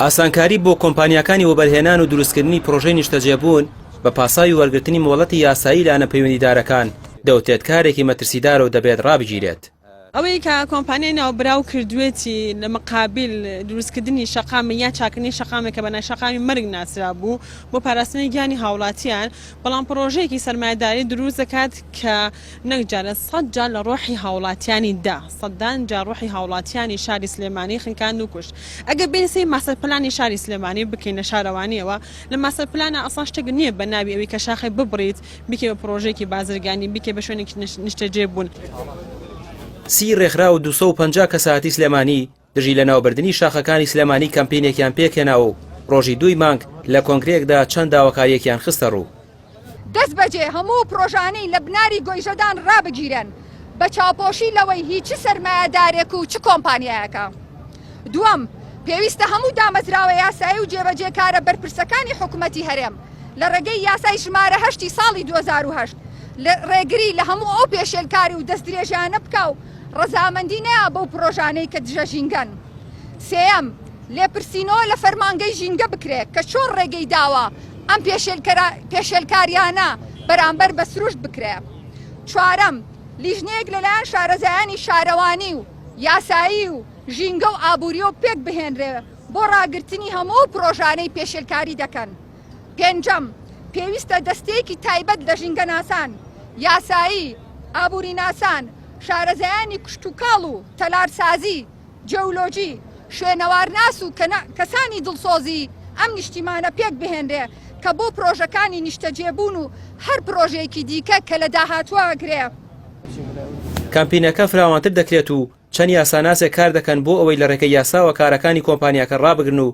ئاسانکاری بۆ کۆمپانیاکانی وەبەرهێنان و دروستکردنی پرۆژەی نیشتەجێبوون بە پاساوی وەرگرتنی مۆڵەتی یاسایی لایەنە پەیوەندیدارەکان دەوترێت کارێکی مەترسیدارە و دەبێت ڕابگیرێت. ئەوەی کە کۆمپانیای ناوبراو کردوویەتی لە مقابل دروستکردنی شەقامێک یان چاککردنی شەقامێک کە بە نای شەقامی مەرگ ناسرابوو بۆ پاراستنی گیانی هاوڵاتیان، بەڵام پرۆژەیەکی سەرمایەداری دروست دەکات کە نەک جا لە سەد جا لە ڕۆحی هاوڵاتیانی دا سەدان جا ڕۆحی هاوڵاتیانی شاری سلێمانی خنکاند و کوشت ئەگەر بێین سەیر ماستەر پلانی شاری سلێمانی بکەین لە شارەوانیەوە لە ماستەر پلانا ئەسڵا شتێک نیە بە ناوی ئەوی کە شاخێ ببڕیت بیکەی بە پڕۆژەیەکی بازرگانی بیکەی بە شوێنێکی نیشتەجێ بوون. سی ڕێکخراو و دوو سەد و پەنجا کەسایەتی سلێمانی دژی لەناوبردنی شاخەکانی سلێمانی کەمپینێکیان پێکهێناوە و ڕۆژی دووی مانگ لە کۆنگرەیەکدا چەند داواکارییەکیان خستەڕوو. دەستبەجێ هەموو پڕۆژانەی لە بناری گۆیژەدان ڕابگیرێن بە چاوپۆشی لەوەی هی چ سەرمایەدارێک و چ کۆمپانیایەکە. دووەم، پێویستە هەموو دامەزراوە یاسایی و جێبەجێکارە بەرپرسەکانی حکومەتی هەرێم لە ڕێگەی یاسای ژمارە هەشتی ساڵی دوو هەزار و هەشت ڕێگری لە هەموو ئەو پێشێلکاری و دەستدرێژیانە بکا و ڕەزامەندی نەیا بەو پڕۆژانەی کە دژە ژینگەن. سێیەم، لێپرسینەوە لە فەرمانگەی ژینگە بکرێت کە چۆن ڕێگەی داوە ئەم پێشێلکارییانە بەرامبەر بە سروشت بکرێت. چوارەم، لیژنەیەک لەلایەن شارەزایانی شارەوانی و یاسایی و ژینگە و ئابوورییەوە پێکبهێنرێت بۆ ڕاگرتنی هەموو ئەو پڕۆژانەی پێشێلکاری دەکەن. پێنجەم، پێویستە دەستەیەکی تایبەت لە ژینگەناسان، یاسایی، ئابووریناسان، شارەزایانی کشتوکاڵ و تەلارسازی، جیۆلۆجی، شوێنەوارناس و کەسانی دڵسۆزی ئەم نیشتیمانە پێک بهێنرێ کە بۆ پرۆژەکانی نیشتەجێبوون و هەر پرۆژەیەکی دیکە کە لە داهاتووە گرێ کەمپینەکە فراوانتر دەکرێت و چەند یاساناسێک کار دەکەن بۆ ئەوەی لە رێگەی یاساوە کارەکانی کۆمپانیاکە رابگرن و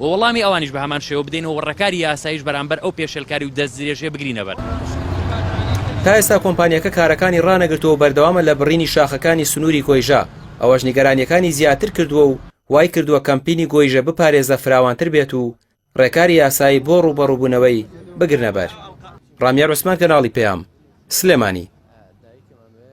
و وەڵامی ئەوانیش بە هەمان شێوە بدەین و ڕێکاری یاساییش بەرامبەر ئەو پێشێلکاری و دەستدرێژییە بگرینەبەر. تا ئێستا کۆمپانیاکە کارەکانی ڕانەگرتووە و بەردەوامە لە بڕینی شاخەکانی سنووری گۆیژە، ئەوەش نیگەرانییەکانی زیاتر کردووە و وایکردووە کەمپینی گۆیژە بپارێزە فراوانتر بێت و ڕێکاری یاسایی بۆ ڕووبەڕووبوونەوەی بگرنەبەر. ڕامیار عوسمان کەناڵی پەیام، سلێمانی.